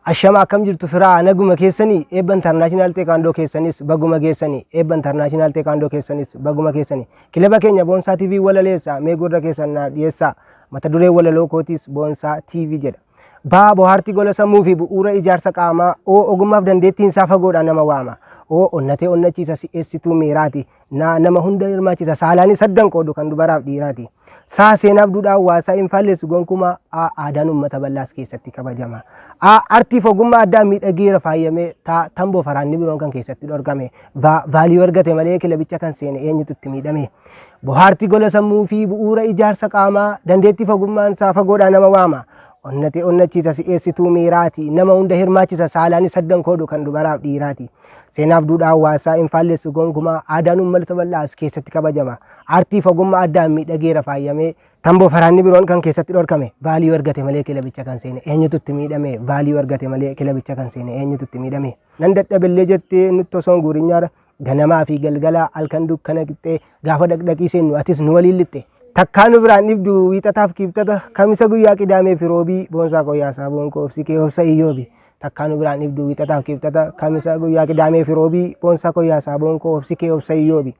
Ashama akkam jirtu firaa naguma keessanii eebba intarnaashinaal teekaandoo keessanis baguma geessanii eebba intarnaashinaal teekaandoo keessanis baguma keessanii kilaba keenya boonsaa TV walaleessa mee gurra keessan naaf dhiyeessaa mata duree walaloo kootiis boonsaa TV jedha. B. Bohaartii gola sammuu fi bu'uura ijaarsa qaamaa O. Ogummaaf dandeettiin isaa fagoodhaan nama waama O. Onnatee onnachiisa si'eessituu miiraati N. Nama hunda hirmaachisa saalaanis addan qoodu kan dubaraaf dhiiraati S. Seenaaf duudhaa hawaasaa hin faallessu gonkumaa A. Aadaan uummata bal'aas keessatti kabajama A. Artiif ogummaa addaan miidhageera faayamee ta. Tamboo faraanni biroon kan keessatti dhorkame V. Value argate malee kilabicha kan seene eenyutu itti miidhame. Bohaarti gola sammuu fi bu'uura ijaarsa qaamaa, dandeettii fagummaan isaa fagoodhaa nama waama. Onnate onnachiisa si'eessituu miiraati. Nama hunda hirmaachisa saalaanis saddan koodu kan dubaraaf dhiiraati. Seenaaf duudhaa hawaasaa hin faallessu gonkumaa aadaan uummalota bal'aas keessatti kabajama. Aartii fagumma addaan miidhageera faayamee. Tamboo faraanni biroon kan keessatti dhorkame vaaliyuu argate malee kilabicha kan seene eenyutu itti miidhame vaaliyuu argate malee kilabicha kan seene eenyutu itti miidhame. Nan dadhabellee jettee nutti osoon guurinyaara. Ganamaa fi galgala, halkan dukkana qixxee, gaafa dhaqdhaqii seennu atis nu waliin lixxe. Takkaa nu biraan dhibdu wiixataaf kiibxata, kamisa guyyaa qidaamee fi roobii, boonsaa koo yaa saaboon koo obsi kee obsa iyyoobi. Takkaa nu biraan dhibdu wiixataaf kiibxata, kamisa guyyaa qidaamee fi roobii, boonsaa koo yaa saaboon koo obsi kee obsa iyyoobi.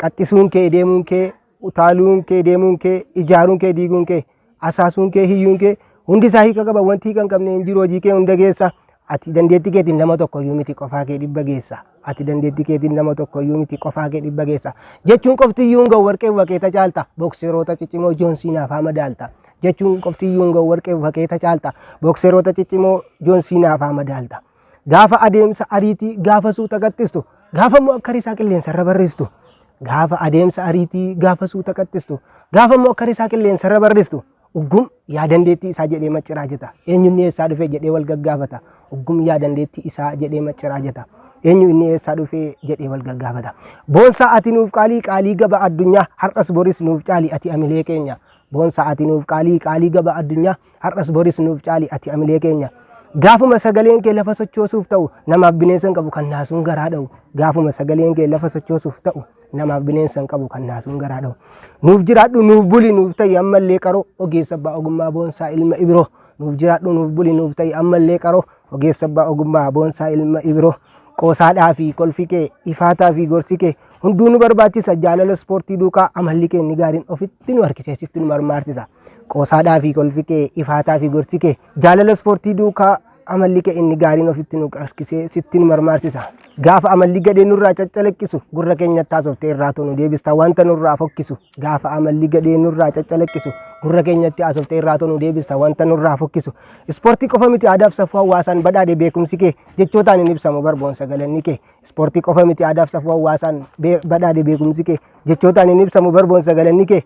Qaxxisuun kee, deemuun kee, Utaaluun kee, deemuun kee, ijaaruun kee, diiguun kee, asaasuun kee, hiyyuun kee hundi isaa hiika qaba. Wanti hiika hin qabne hin jiru. Hojii kee hunda geessa. Ati dandeettii keetiin nama tokko iyyuu miti qofaa kee dhibba geessa. Ati dandeettii keetiin nama tokko iyyuu miti qofaa kee dhibba geessa. Jechuun qofti iyyuu hin ga'u warqee wakeeta caalta. Bookseroota ciccimoo Joon Siinaaf haa madaalta. Jechuun qofti iyyuu hin ga'u warqee wakeeta caalta. Bookseroota ciccimoo Joon Siinaaf haa madaalta. gaafa adeemsa ariitii, gaafa suuta qaxxistu, gaafa immoo akka risaa qilleensa irra barristu, gaafa adeemsa ariitii, gaafa suuta qaxxistu, gaafa immoo akka risaa qilleensa irra barristu, uggum yaa dandeettii isaa jedhee macciraa jeta. Eenyu inni eessaa dhufe jedhee wal gaggaafata. Uggum yaa dandeettii isaa jedhee macciraa jeta. Eenyu inni eessaa dhufe jedhee wal gaggaafata. Boonsaa ati nuuf qaalii qaalii gaba addunyaa har'as boris nuuf caali ati amilee keenya. Boonsaa ati nuuf qaalii qaalii gaba addunyaa Har'as boris nuuf caali ati amilee keenya. Gaafuma sagaleen kee lafa sochoosuuf ta'u namaaf bineensa hin qabu kan naasuun garaa dha'u. Gaafuma sagaleen kee lafa sochoosuuf ta'u namaaf bineensa hin qabu kan naasuun garaa dha'u. Nuuf jiraadhu nuuf buli nuuf ta'i ammallee qaroo ogeessa abbaa ogummaa boonsaa ilma ibiroo. Nuuf jiraadhu nuuf buli nuuf ta'i ammallee qaroo ogeessa abbaa ogummaa boonsaa ilma ibiroo. Qoosaadhaa fi kolfi kee ifaataa fi gorsi kee hunduu nu barbaachisa jaalala ispoortii duukaa amalli kee inni gaariin ofitti nu harkiseessiftu nu marmaarsisa. Qoosaadhaa fi kolfi kee, ifaataa fi gorsi kee, jaalala ispoortii duukaa amalli kee inni gaariin ofitti nu qarqisee sitti nu marmaarsisa. Gaafa amalli gadhee nurraa caccalaqqisu gurra keenyatti haasoftee irraatoo nu deebista wanta nurraa fokkisu. Gaafa amalli gadhee nurraa caccalaqqisu gurra keenyatti haasoftee irraatoo nu deebista wanta nurraa fokkisu. Ispoortii qofa miti aadaaf safuu hawaasaan badhaadhe beekumsi kee jechootaan hin ibsamu barboonsa galanni kee. Ispoortii qofa miti aadaaf safuu hawaasaan badhaadhe beekumsi kee jechootaan hin ibsamu barboonsa galanni kee.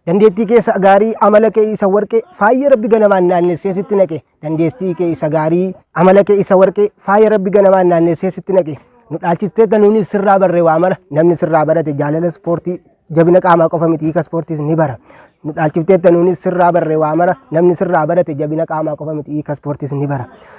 Dandeettii kee isa gaarii, amala kee isa warqee, faaya Rabbi ganamaan naannessee sitti naqe. Dandeettii kee isa gaarii, amala kee isa warqee, faaya Rabbi ganamaan naannessee sitti naqe. Nu dhaalchisteetta nuunis sirraa barre waa mara. Namni sirraa barate jaalala ispoortii jabina qaamaa qofa miti hiika ispoortiis ni bara. Nu dhaalchifteetta nuunis sirraa barre waa mara. Namni sirraa barate jabina qaamaa qofa miti hiika ispoortiis ni bara.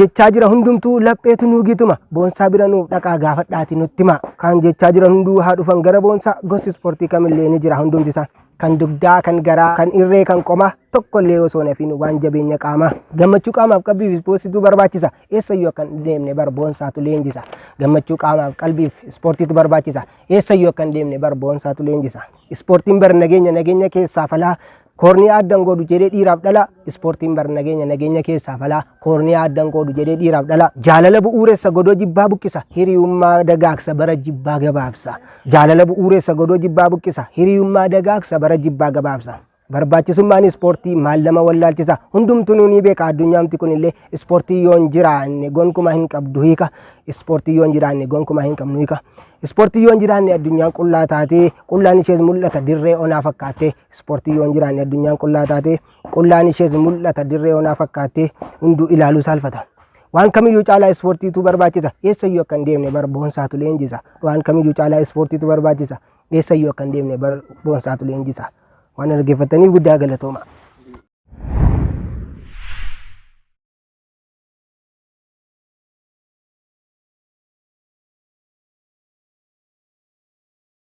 jechaa jira hundumtuu lapheetu nuugiituma boonsaa bira nuuf dhaqaa gaafadhaati nutti himaa kan jechaa jiran hunduu haa dhufan gara boonsaa gosi ispoortii kamillee ni jira hundumti isaa kan dugdaa kan garaa kan irree kan qomaa tokkollee osoo nafiin waan jabeenya qaamaa gammachuu qaamaaf qalbiif ispoortiitu barbaachisa eessayyuu akka hin deemne bar boonsaatu leenjisa gammachuu qaamaaf qalbiif ispoortiitu barbaachisa eessayyuu akka hin deemne bar boonsaatu leenjisa ispoortiin bar nageenya nageenya keessaa falaa Koorniyaa adda hin qoodu jedhee dhiiraaf dhalaa Ispoortiin bar nageenya nageenya keessaa falaa Koorniyaa adda hin qoodu jedhee dhiiraaf dhalaa Jaalala bu'uuressa godoo jibbaa buqqisa Hiriyummaa dagaagsa bara jibbaa gabaabsa Jaalala bu'uuressa godoo jibbaa buqqisa Hiriyummaa dagaagsa bara jibbaa gabaabsa Barbaachisummaan ispoortii maal nama wallaalchisa hundumtuu nuunii beeka addunyaamti kunillee ispoortii yoo hin jiraanne gonkumaa hin qabdu hiika ispoortii yoo hin jiraanne gonkumaa hin qabnu hiika ispoortii yoo hin jiraanne addunyaan qullaa taatee qullaan ishees mul'ata dirree onaa fakkaattee Ispoortiin yoo hin jiraanne addunyaan qullaa taate, qullaan ishees mul'ata dirree onaa fakkaattee hunduu ilaaluu saalfata. Waan kamiyyuu caalaa ispoortiitu barbaachisa. Eessayyuu akka hin deemne bar boonsaatu leenjisa. Waan kamiyyuu caalaa ispoortiitu barbaachisa. Eessayyuu akka hin deemne bar boonsaatu leenjisa. Waan na dhaggeeffattaniif guddaa galatooma.